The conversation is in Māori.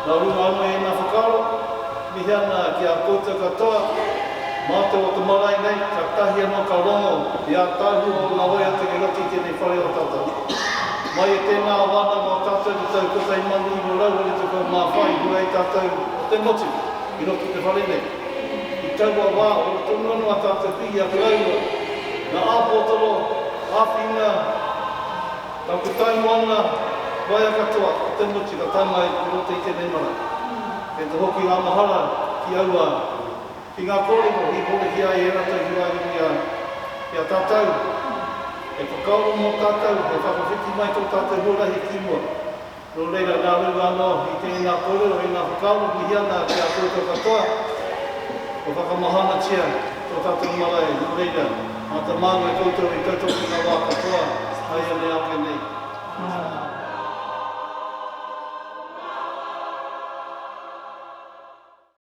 Nā runga anō i ēnā whakaaro, mihi ana ki a koutou katoa, mā te o te marae nei, katahi anō ka rongo i ātaahua ōna hoe atu ki roto i tēnei whare o tata. Mai i tēnā wānanga o tātou i te tau 1924 i hura ai tātou o te motu i roto i te whare nei. I taua wā, ora tonu anō a tātou pihi a karaua, ngā āpotoro, āwhina, Ka puta noa ngā waea katoa o te motu ka tangai i roto i tēnei marae. Kei te hoki ngā mahara ki aua au, ki ngā kōrero i horihia ai e rātou ki waenga i a au, ki a tātou e whakaaro mō tātou hei whakawhiti mai tō tātou huarahi ki mua. Nō reira, nā runga anō i tēnā kōrero e ngā whakaaro mihi ana ki a koutou katoa, kua whakamahanatia tō tātou marae, nō reira, āta māngai koutou i tautoko i ngā wā katoa, nāianei ake nei.